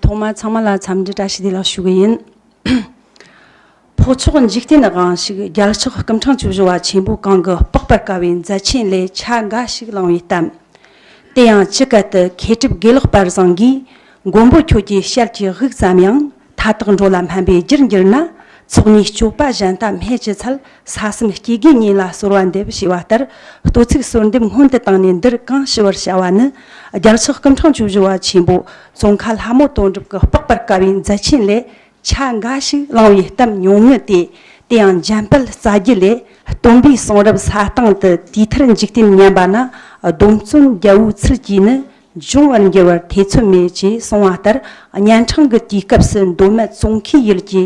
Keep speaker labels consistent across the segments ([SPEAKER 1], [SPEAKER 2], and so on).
[SPEAKER 1] ཐོག་མར་ཚང་མ་ལ་འཚམས་འདྲི་བཀྲ་ཤིས་བདེ་ལེགས་ཞུ་གི་ཡིན། འཕགས་མཆོག་འཇིག་རྟེན་ན་གང་ཞིག་རྒྱལ་ཕྱག་སྐུ་འཕྲང་བཅུ་བཞི་བ་ཆེན་པོ་གང་གི་དཔོག་པར་དཀའ་བའི་མཛད་ཆེན་ལས་ཆ་འགའ་ཞིག་བླངས་བའི་གཏམ། དེ་ཡང་ཅི་སྐད་དུ་མཁས་གྲུབ་དགེ་ལེགས་པར་བཟང་གིས་མགོན་པོ་ཁྱོད་ཀྱི་ཞལ་གྱི་དབུགས་ཙམ་ཡང་མཐའ་དག་འགྲོ་ལ་སྨན་པའི་རྒྱུར་འགྱུར་ན། ཚོགས་གཉིས་སྤྱོད་པ་གཞན་དག་སྨད་ཀྱི་ཚུལ་ས་གསུམ་སྐྱེ་རྒུའི་གཉེན་ལ་གསོལ་བ་འདེབས་ཞེས་པ་ལྟར་ལྟོས་ཚིག་གསོལ་འདེབས་སྔོན་དུ་བཏང་ནས་འདིར་གང་ཞུ་བར་བྱ་བ་ནི། རྒྱལ་ཚོགས་སྐུ་འཕྲེང་བཅུ་བཞི་བ་ཆེན་པོ་ཙོང་ཁ་ལྷ་མོ་དོན་གྲུབ་ཀྱི་དཔག་པར་དཀའ་བའི་མཛད་ཆེན་ལས། ཆ་འགའ་ཞིག་བླང་བའི་གཏམ་ཉུང་ངུ་སྟེ། དེའང་འཇམ་དཔལ་རྩ་རྒྱུད་ལས། སྟོན་པའི་གསུང་རབ་ས་སྟེང་དུ་དུས་མཐར་འཇིག་རྟེན་ཉམས་པ་ན། སྡོམ་བརྩོན་རྒྱལ་བོའི་ཚུལ་གྱིས་ནི་འབྱུང་བར་འགྱུར་བར་ཐེ་ཚོམ་མེད་ཅེས་གསུངས་བ་ལྟར་གཉན་འཕྲང་གི་དུས་སྐབས་སུ་མདོ་སྨད་ཙོང་ཁའི་ཡུལ་གྱི་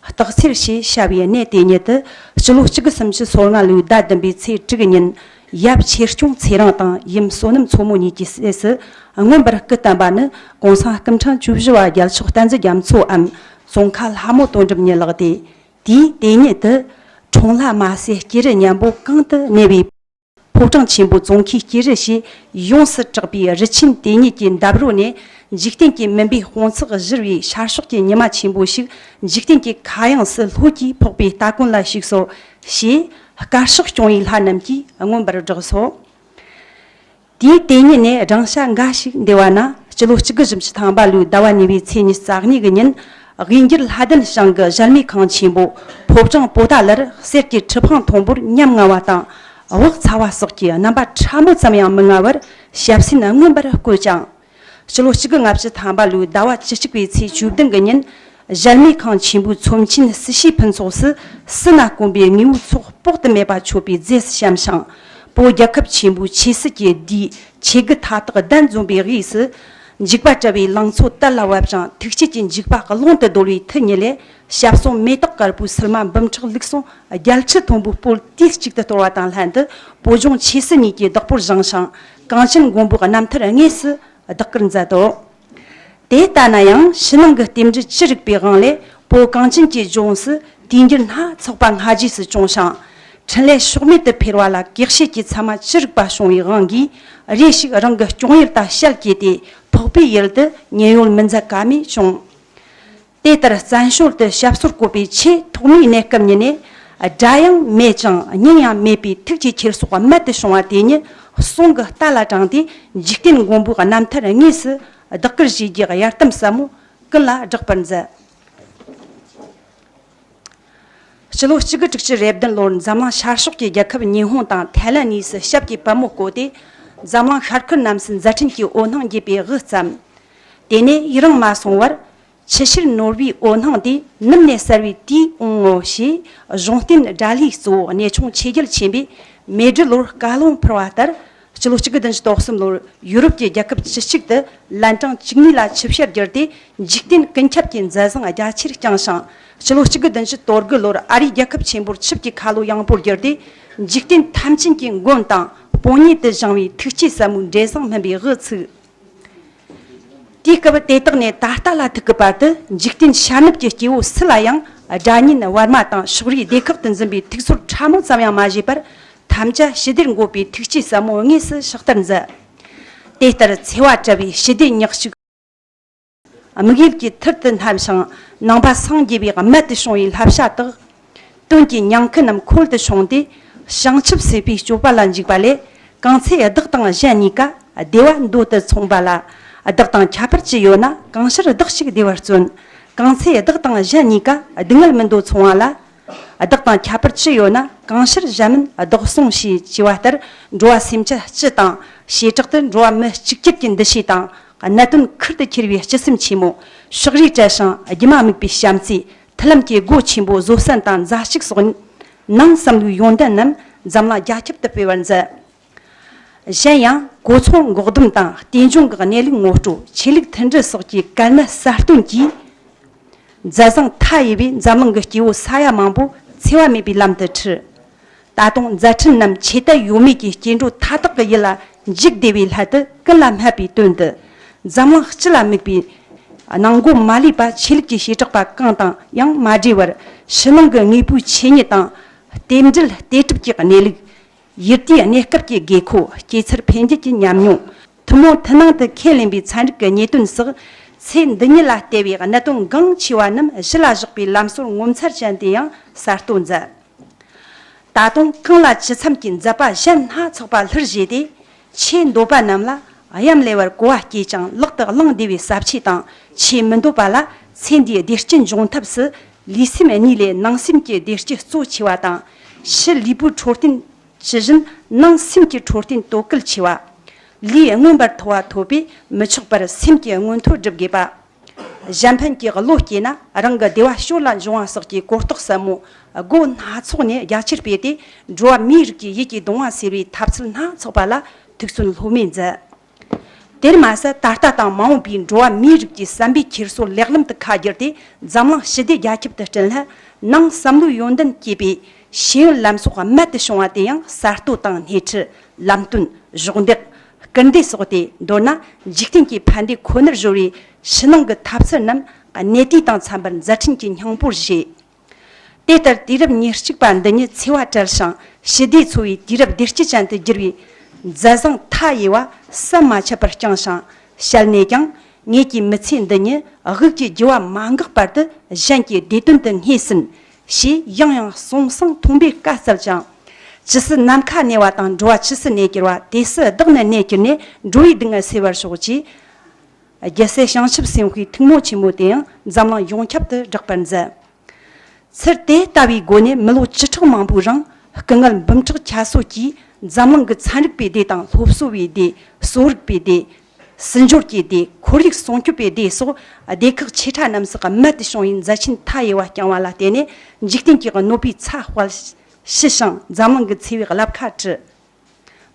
[SPEAKER 1] སྟག་འཚེར་ཞེས་བྱ་བའི་གནས་དེ་ཉིད་དུ་སྤྱི་ལོ་གཅིག་གི་སུམ་ཅུ་སོ་ལྔ་ལོའི་ཟླ་བདུན་པའི་ཚེས་དྲུག་ཉིན་ཡབ་ཆེར་སྐྱོང་ཚེ་རིང་དང་ཡུམ་བསོད་ནམས་མཚོ་མོ་གཉིས་ཀྱི་སྲས་སུ་མངོན་པར་སྐུ་བསྟན་པ་ནི་གོང་ས་སྐུ་འཕྲེང་བཅུ་བཞི་བ་རྒྱལ་མཆོག་བསྟན་འཛིན་རྒྱ་མཚོའམ་ཙོང་ཁ་ལྷ་མོ་དོན་གྲུབ་གཉིས་ལགས་ཏེ། དུས་དེ་ཉིད་དུ། གྲོང་ལྷ་དམའ་སའི་སྐྱེས་རི་གཉན་པོ་གང་དུ་གནས་པའི། ཕོ་བྲང་ཆེན་པོ་རྫོང་ཁའི་སྐྱེས་རི་ཞེས་ཡོངས་སུ་གྲགས་པའི་རི་ཆེན་དེ་ཉིད་ཀྱི་འདབས་རོལ་ནས་འཇིག་རྟེན་གྱི་མུན་པའི་དཔུང་ཚོགས་གཞིར་བའི་ཤར་ཕྱོགས་ཀྱི་ཉི་མ་ཆེན་པོ་ཞིག་འཇིག་རྟེན་གྱི་མཁའ་དབྱིངས་སུ་ལྷོད་ཀྱིས་ཕོག་པའི་སྟ་གོན་ལ་ཞུགས་སོ། ཞེས་དཀར་ཕྱོགས་སྐྱོང་བའི་ལྷ་རྣམས་ཀྱིས་མངོན་པར་བསྒྲགས་སོ། དེའི་དེ་ཉིད་ནས་སྦྲང་ཤ་འགའ་ཞིག་འདེ་བ་ན་སྤྱི་ལོ་གཅིག་དགུ་བཞི་བཅུ་ཐང་པ་ལོའི་ཟླ་བ་ཉི་བའི་ཚེས་ཉི་རྩ་གཉིས་ཀྱི་ཉིན་དབྱིན་འགྱུར་ལྷ་ལྡན་ཞང་གི་གཞལ་མེད་ཁང་ཆེན་པོ་ཕོ་བྲང་པོ་ཏཱ་ལར་གསེར་གྱི་ཁྲི་འཕང་མཐོན་པོར་ཉམ་ང་བ་དང་དབུགས་ཚ་བ་སོགས་ཀྱི་རྣམ་པ་ཕྲ་མོ་ཙམ་ཡང་མི་མངའ་བར་ཞབས་སེན་མངོན་པར་བསྐོས་ཀྱང། སྤྱི་ལོ་གཅིག་གི་ལྔ་བཅུ་ཐམ་པ་ལོའི་ཟླ་བ་བཅུ་གཅིག་པའི་ཚེས་བཅུ་བདུན་གྱི་ཉིན་གཞལ་མེད་ཁང་ཆེན་པོའི་ཚོམས་ཆེན་སྲི་ཞུའི་ཕུན་ཚོགས་སུ་སྲི་ན་དཀོན་པའི་དངོས་བོའི་ཚོགས་དཔོག་ཏུ་མེད་པ་མཆོད་པའི་རྫས་སུ་བཤམས་ཤིང། པོ་རྒྱལ་ཁབ་ཆེན་པོའི་ཆོས་སྲིད་ཀྱི་དུས་ཆོས་བརྒྱུད་མཐའ་དག་གདན་འཛོམས་པའི་དབུས་སུ། འཇིགས་པ་བཀྲལ་བའི་ལང་ཚོ་དར་ལ་བབས་ཀྱང་ཐུགས་བསྐྱེད་ཀྱི་འཇིགས་པ་ཀློང་དུ་བརྡོལ་བའི་མཐུ་ཉིད་ལས་ཞབས་གསུམ་མེ་ཏོག་དཀར་པོའི་སིལ་མ་འབུམ་ཕྲག་ལུགས་ཟུང་རྒྱལ་ཁྲི་མཐོན་པོའི་སྤོས་དུས་གཅིག་ཏུ་གཏོར་བ་དང་ལྷན་དུ་བོད་ལྗོངས་ཆོས་སྲིད་གཉིས་ཀྱི་བདག་པོར་བཞེངས་ཤིང་གངས་ཅན་མགོན་པོའི་རྣམ་ཐར་དངོས་སུ་བདག་གིར་མཛད་དོ། དེ་ལྟ་ན་ཡང་ཕྱི་ནང་གི་རྟེན་འབྲེལ་ཅི་རིགས་པའི་དབང་ལས་བོད་གངས་ཅན་གྱི་ལྗོངས་སུ་དུས་འགྱུར་སྣ་ཚོགས་པ་སྔ་རྗེས་སུ་བྱུང་ཞིང་འཕྲིན་ལས་ཕྱོགས་མེད་དུ་འཕེལ་བ་ལ་གེགས་བྱེད་ཀྱི་ཚད་མ་ཅི་རིགས་པ་བྱུང་བའི་དབང་གིས་རེ་ཞིག་རང་གི་སྐྱོང་ཡུལ་དང་ཞལ་གྱེས་ཏེ་ཕོག་པའི་ཡུལ་དུ་ཉེན་གཡོལ་མི་འཛད་ཀ་མེད་བྱུང། དེ་ལྟར་བཙན་བྱོལ་དུ་ཞབས་སོར་བཀོད་པའི་ཆེས་ཐོག་མའི་གནས་སྐབས་ཉིད་ནས་སྒྲ་ཡང་མེད་ཅིང་སྙིང་ཡང་མེད་པའི་ཐུགས་ཀྱི་འཁྱེར་སོ་རྨད་དུ་བྱུང་བ་དེ་ཉིད་གསུང་གི་རྟ་ལ་དྲངས་ཏེ་འཇིག་རྟེན་མགོན་པོའི་རྣམ་ཐར་དངོས་སུ་བདག་གིར་བྱས་རྗེས་གཡར་དམ་ཟབ་མོ་ཀུན་ལ་བསྒྲགས་པར་མཛད། ཕྱི་ལོ་གཅིག་དགུ་དྲུག་ཅུ་རེ་བདུན་ལོར་འཛམ་གླིང་ཤར་ཕྱོགས་ཀྱི་རྒྱལ་ཁབ་ཉི་ཧོང་དང་ཐའེ་ལན་གཉིས་སུ་ཞབས་ཀྱི་བ་མོ་བསྐོས་ཏེ་འཛམ་གླིང་ཤར་ཁུལ་རྣམས་སུ་མཛའ་འཕྲིན་གྱི་འོད་སྣང་རྒྱས་པའི་དབུ་བརྩམས། དེ་ནས་ཡི་རངས་མ་སོང་བར། ཕྱི་ཕྱིར་ནོར་བུའི་འོད་སྣང་དེ་ནུབ་ནས་གསལ་བའི་དུས་འོང་ངོ་ཞེས་གཞུང་བསྟན་དགྲ་ལྷའི་གཙོ་བོ་གནས་ཆུང་ཆོས་རྒྱལ་ཆེན་པོས་མེ་སྦྲུལ་ལོར་བཀའ་ལུང་ཕུལ་བ་ལྟར་སྤྱི་ལོ་གཅིག་དགུ་བདུན་ཅུ་དོག་གསུམ་ལོར་ཡུ་རོབ་ཀྱི་རྒྱལ་ཁབ་བཅུ་གཅིག་དུ་ལན་གྲངས་བཅུ་གཉིས་ལ་ཆིབས་བཤེར་བསྒྱུར་ཏེ་འཇིག་རྟེན་ཀུན་ཁྱབ་ཀྱི་མཛད་བཟང་རྒྱ་ཆེར་བསྐྱངས་ཤིང། སྤྱི་ལོ་གཅིག་དགུ་བདུན་ཅུ་དོར་དགུ་ལོར་ཨ་རིའི་རྒྱལ་ཁབ་ཆེན་པོར་ཆིབས་ཀྱི་ཁ་ལོ་ཡངས་པོར་བསྒྱུར་ཏེ་འཇིག་རྟེན་ཐམས་ཅན་གྱི་མགོན་དང་དཔོན་གཉེར་དུ་བཞེངས་བའི་ཐུགས་བསྐྱེད་ཟབ་མོའི་འབྲས་བཟང་སྨིན་པའི་དབུ་ཚུགས། དུས་སྐབས་དེ་དག་ནས་ད་ལྟ་ལ་ཐུག་གི་བར་དུ་འཇིག་རྟེན་ཤར་ནུབ་ཀྱི་སྐྱེ་བོ་སུ་ལ་ཡང་དགྲ་གཉེན་བར་མ་དང་ཕྱོགས་རིས་སྡེ་ཁག་ཏུ་འཛིན་པའི་ཐིག་ཚོར་ཕྲ་མོ་ཙམ་ཡང་མ་བཞེས་པར་ཐམས་ཅད་ཞི་བདེར་འགོད་པའི་ཐུགས་བསྐྱེད་ཟབ་མོ་དངོས་སུ་ཕྱག་བསྟར་མཛད། དེ་ལྟར་འཚེ་བ་བྲལ་བའི་ཞི་བདེ་ཉག་གཅིག་དམིགས་ཡུལ་གྱི་མཐིལ་དུ་སྣང་ཞིང་ནང་པ་སངས་རྒྱས་པའི་རྨད་དུ་བྱུང་བའི་བསླབ་བྱ་དག་དོན་གྱི་ཉང་ཁུ་རྣམས་ཁོལ་དུ་ཕྱུང་སྟེ། བྱང་ཆུབ་སེམས་དཔའི་སྤྱོད་པ་ལ་འཇུག་པ་ལས་གང་ཚེ་བདག་དང་གཞན་གཉིས་ཀ་བདེ་བ་འདོད་དུ་མཚུངས་པ་ལ། བདག་དང་ཁྱད་པར་ཅི་ཡོད་ན་གང་ཕྱིར་བདག་གཅིག་བདེ་བར་བརྩོན། གང་ཚེ་བདག་དང་གཞན་གཉིས་ཀ་སྡུག་བསྔལ་མི་འདོད་མཚུངས་བ་ལ། བདག་དང་ཁྱད་པར་ཅི་ཡོད་ན་གང་ཕྱིར་གཞན་མིན་བདག་སྲུང་ཞེས་བགྱི་བ་ལྟར་འགྲོ་བ་སེམས་ཅན་སྤྱི་དང་བྱེ་བྲག་ཏུ་འགྲོ་བ་མི་གཅིག་གྱུར་གྱི་འདུ་ཤེས་དང་གནད་དོན་ཁུར་དུ་འཁྱེར་བའི་སྤྱི་སེམས་ཆེན་མོ། ཕྱོགས་རིས་བྲལ་ཞིང་སྒྱུ་མ་དམིགས་པའི་བྱམས་བརྩེའི་མཐུན་ལམ་གྱི་སྒོ་ཆེན་པོ་བཟོ་བསྲན་དང་མཛའ་གཅིག་སོགས་ནང་བསམ་བློའི་ཡོན་ཏན་རྣམས་འཛམ་གླིང་རྒྱ་ཁྱབ་ཏུ་སྤེལ་བར་མཛད། གཞན་ཡང་གོ་འཚོང་འགོག་སྡོམ་དང་བརྟན་འབྱུང་གི་གནས་ལུགས་ངོ་སྤྲོད་ཆོས་ལུགས་མཐུན་སྒྲིལ་སོགས་ཀྱི་དཀའ་གནད་གསར་བཏོན་གྱིས། མཛད་བཟང་མཐའ་ཡས་པས་འཛམ་གླིང་གི་སྐྱེ་བོ་ས་ཡ་མང་པོ་འཚེ་བ་མེད་པའི་ལམ་དུ་ཁྲིད། ད་དུང་མཛད་འཕྲིན་རྣམས་ཆོས་དད་ཡོད་མེད་ཀྱི་སྐྱེ་འགྲོ་མཐའ་དག་གི་ཡིད་ལ་འཇིགས་བདེ་བའི་ལྷ་དུ་ཀུན་ལ་སྨྲས་པའི་དོན་དུ། འཛམ་གླིང་སྤྱི་ལ་དམིགས་པའི། ནང་སྒོ་མ་ལུས་པ་ཆོས་ལུགས་ཀྱི་བྱེ་བྲག་པ་གང་དང་ཡང་མ་འབྲེལ་བར་ཕྱི་ནང་གི་དངོས་པོའི་ཆོས་ཉིད་དང། རྟེན་འབྲེལ་ལྟོས་གྲུབ་ཀྱི་གནས་ལུགས། ཡུལ་དུས་གནས་སྐབས་ཀྱི་དགོས་མཁོ་སྐྱེ་འཚར་འཕེལ་འགྱུར་གྱི་ཉམས་མྱོང། ཐུན་མོང་མཐུན་སྣང་དུ་ཁས་ལེན་པའི་ཚན་རིག་གི་ཉེས་དོན་སོགས། ཚེ་འདི་ཉིད་ལ་ལྟེ་བའི་གནད་དོན་འགངས་ཆེ་བ་རྣམས་གཞི་ལ་བཞག་པའི་ལམ་སྲོལ་ངོ་མཚར་ཅན་དེ་ཡང་གསར་གཏོད་མཛད། ད་དུང་རྐང་ལག་ཇི་འཚམ་གྱི་མཛད་པ་གཞན་སྣ་ཚོགས་པ་ལྷུར་བཞེས་ཏེ་ཆེས་འདོད་པ་རྣམས་ལ་གཡམ་ལེ་བར་གོ་བ་སྐྱེས་ཀྱང་ལག་ཏུ་བླང་བདེ་བའི་ཟབ་ཆོས་དང་ཆེས་མི་འདོད་པ་ལ་ཚེ་འདིའི་བདེ་སྐྱིད་འབྱུང་ཐབས་སུ་ལུས་སེམས་གཉིས་ལས་སྣང་སེམས་ཀྱི་བདེ་སྐྱིད་གཙོ་ཆེ་བ་དང། ཕྱི་ལུས་པོའི་འཕྲོད་བསྟེན་ཇི་བཞིན་སྣང་སེམས་ཀྱི་འཕྲོད་བསྟེན་དོ་གལ་ཆེ་བ། ལུས་མངོན་པར་མཐོ་བ་ཐོབ་པས་མི་ཆོག་པར་སེམས་ཀྱི་མངོན་མཐོ་སྒྲུབ་དགོས་པ། གཞན་ཕན་གྱི་བློ་སྐྱེས་ན་རང་གི་བདེ་བ་ཕྱོགས་ལ་འབྱུང་བ་སོགས་ཀྱི་གོ་རྟོགས་ཟབ་མོ་སྒོ་སྣ་ཚོགས་ནས་རྒྱ་ཆེར་སྤེལ་ཏེ་འགྲོ་བ་མིའི་རིགས་ཀྱི་ཡིད་ཀྱི་གདུང་བ་སེལ་བའི་ཐབས་ཚུལ་སྣ་ཚོགས་པ་ལ་ཐུགས་བརྩོན་ལྷོད་མེད་མཛད། དེར་མ་ཟད་ད་ལྟ་དང་མ་འོངས་པའི་འགྲོ་བ་མིའི་རིགས་ཀྱི་བསམ་པའི་འཁྱེར་སོ་ལེགས་ལམ་དུ་ཁ་བསྒྱུར་ཏེ་འཛམ་གླིང་ཞི་བདེ་རྒྱ་ཁྱབ་ཏུ་བསྐྲུན་ལྷག་གནང་བསམ་བློའི་ཡོན་ཏན་བསྐྱེད་པའི་ཤེས་ཡོན་ལམ་སྲོག་རྨད་དུ་བྱུང་བ་དེ་ཡང་གསར་གཏོད་དང་སྣེ་ཁྲིད་ལམ་སྟོན་གཞོགས་འདེགས་སྐུལ་འདེད་སོགས་ཏེ་མདོར་ན་འཇིག་རྟེན་གྱི་ཕན་བདེ་ཁོ་ནར་གཞོལ་བའི་ཕྱི་ནང་གི་ཐབས་ཚུལ་རྣམས་གནས་དུས་དང་འཚམ་པར་མཛད་འཕྲིན་གྱི་སྙིང་པོར་བཞེས། དེ་ལྟར་དུས་རབས་ཉེར་གཅིག་པ་འདི་ཉིད་འཚེ་བ་བྲལ་ཞིང་ཞི་བདེས་འཚོ་བའི་དུས་རབས་བདེ་སྐྱིད་ཅན་དུ་བསྒྱུར་བའི་མཛད་བཟང་མཐའ་ཡས་བ་ཟམ་མ་ཆད་པར་བསྐྱངས་ཤིང་བཤད་ནས་ཀྱང་ངེད་ཀྱི་མི་ཚེ་འདི་ཉིད་དབུགས་ཀྱི་རྒྱུ་བ་མ་འགག་བར་དུ་གཞན་གྱི་བདེ་དོན་དུ་སྔས་ཟིན་ཞེས་ཡང་ཡང་གསུངས་གསང་མཐོང་པའི་བཀའ་སྩལ་ཅིང། ཇི་སྲིད་ནམ་མཁའ་གནས་བ་དང་འགྲོ་བ་ཇི་སྲིད་གནས་གྱུར་བ་དེ་སྲིད་བདག་ནི་གནས་གྱུར་ནས་འགྲོ་བའི་སྡུག་བསྔལ་སེལ་བར་ཤོག་ཅིག། རྒྱལ་སྲས་བྱང་ཆུབ་སེམས་དཔའི་ཐུགས་མོ་ཆེན་མོ་དེའང་འཛམ་གླིང་ཡོངས་ཁྱབ་ཏུ་བསྒྲགས་པར་མཛད། ཚུལ་དེ་ལྟ་བུའི་སྒོ་ནས་མི་ལོ་བཅུ་ཕྲག་མང་པོའི་རིང་སྐུ་ངལ་འབུམ་ཕྲག་ཁྱད་གསོད་ཀྱིས་འཛམ་གླིང་གི་ཚན་རིག་པའི་སྡེ་དང་སློབ་གསོ་བའི་སྡེ་གསོ་རིག་པའི་སྡེ་སྲིད་འབྱོར་གྱི་དེ་ཁོར་ཡུག་སྲུང་སྐྱོབ་པའི་སྡེ་སོགས་སྡེ་ཁག་ཆེ་ཕྲ་རྣམས་སུ་རྨད་དུ་བྱུང་བའི་མཛད་ཕྱིན་མཐའ་ཡས་པ་རྐྱང་བ་ལ་བརྟེན་ནས་འཇིག་རྟེན་གྱི་གནོད་པའི་ཚ་དཔལ་ཞི་ཞིང་འཛམ་གླིང་གི་འཚེ་བའི་རླབས་ཁ་བྲི།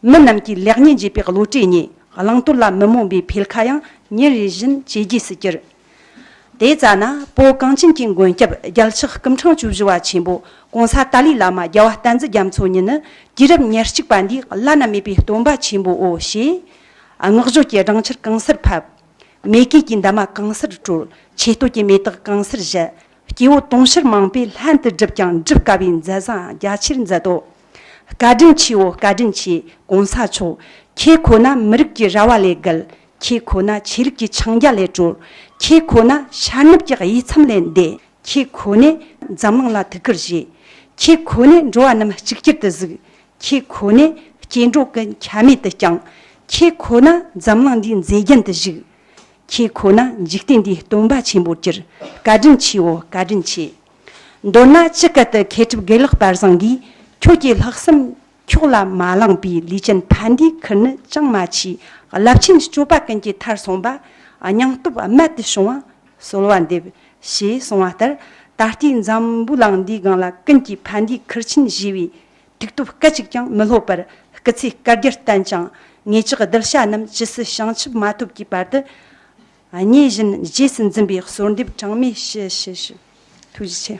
[SPEAKER 1] མི་རྣམས་ཀྱིས་ལེགས་ཉེས་འབྱེད་པའི་བློ་གྲོས་ཉིད་བླང་དོར་ལ་མི་རྨོངས་པའི་འཕེལ་ཁ་ཡང་ཉིན་རེ་བཞིན་ཇེ་རྒྱས་སུ་གྱུར། དེ་ཙཱ་ན་པོ་གངས་ཅན་གྱི་མགོན་སྐྱབས་རྒྱལ་ཕྱག་སྐུམ་འཕྲང་བཅུ་བཞི་བ་ཆེན་པོ ྋགོང་ས་ཏཱ་ལའི་བླ་མ་རྒྱལ་བ་བསྟན་འཛིན་རྒྱ་མཚོ་ཉིད་ནི་དུས་རབས་ཉེར་གཅིག་པ་འདིའི་བླ་ན་མེད་པའི་སྟོན་པ་ཆེན་པོའོ་ཞེས་སྔགས་བརྗོད་ཀྱི་སྦྲང་ཆར་གང་སར་ཕབ། མེ་སྐྱེས་ཀྱི་འདབ་མ་གང་སར་དཀྲོལ། ཆད་ལྟོ་སྐྱེས་མེ་ཏོག་གང་སར་བཞད། སྐྱེ་བོ་དུང་ཕྱུར་མང་པོས་ལྷན་དུ་བསྒྲུབས་ཀྱང་བསྒྲུབ་དཀའ་བའི་མཛད་བཟང་རྒྱ་ཆེར་མཛད་དོ། བཀའ་དྲིན་ཆེའོ་བཀའ་དྲིན་ཆེ་གོང་ས་མཆོག། ཁྱེད་ཁོ་ན་མི་རིགས་ཀྱི་ར་བ་ལས་བརྒལ། ཁྱེད་ཁོ་ན་ཆོས་ལུགས་ཀྱི་འཆིང་རྒྱ་ལས་གྲོལ། ཁྱེད་ཁོ་ན་ཤར་ནུབ་ཀྱི་དབྱེ་མཚམས་ལས་འདས། ཁྱེད་ཁོ་ནས་འཛམ་གླིང་ལ་ཐུགས་ཁུར་བཞེས། ཁྱེད་ཁོ་ནས་འགྲོ་བ་རྣམས་གཅིག་གྱུར་དུ་གཟིགས། ཁྱེད་ཁོ་ནས་སྐྱེ་འགྲོ་ཀུན་ཁྱད་མེད་དུ་བསྐྱངས། ཁྱེད་ཁོ་ན་འཛམ་གླིང་འདིའི་མཛེས་རྒྱན་དུ་བཞུགས། ཁྱེད་ཁོ་ན་འཇིག་རྟེན་འདིའི་སྟོན་པ་ཆེན་པོར་གྱུར། བཀའ་དྲིན་ཆེའོ་བཀའ་དྲིན་ཆེ། མདོར་ན་ཅི་སྐད་དུ་མཁས་གྲུབ་དགེ་ལེགས་དཔལ་བཟང་གིས་ཁྱོད་ཀྱི་ལྷག་བསམ་ཁྱོགས་ལ་མ་བླངས་པའི་ལུས་ཅན་ཕ་འདིའི་ཁུར་ནི་ཅང་མ་མཆིས། རླབས་ཆེན་སྤྱོད་པ་ཀུན་གྱི་མཐར་སོང་པ། སྙིང་སྟོབས་རྨད་དུ་བྱུང་བ་གསོལ་བ་འདེབས། ཞེས་གསུངས་བ་ལྟར་ད་ལྟའི་འཛམ་བུ་གླིང་འདིའི་སྒང་ལ་ཀུན་གྱིས་ཕ་འདིའི་ཁུར་ཆེན་བཞེས་པའི་དུག་སྟོབས་སྐད་ཅིག་ཀྱང་མི་ལྷོད་པར་སྐུ་ཚེའི་བསྐལ་བརྒྱར་བརྟན་ཅིང། ངེད་ཅག་གདུལ་བྱ་རྣམས་ཇི་སྲིད་བྱང་ཆུབ་མ་ཐོབ་ཀྱི་བར་དུ། མཉེས་བཞིན་རྗེས་སུ་འཛིན་པའི་གསོལ་འདེབས་གྲངས་མེད་ཞུ། ཐུགས་རྗེ་ཆེ།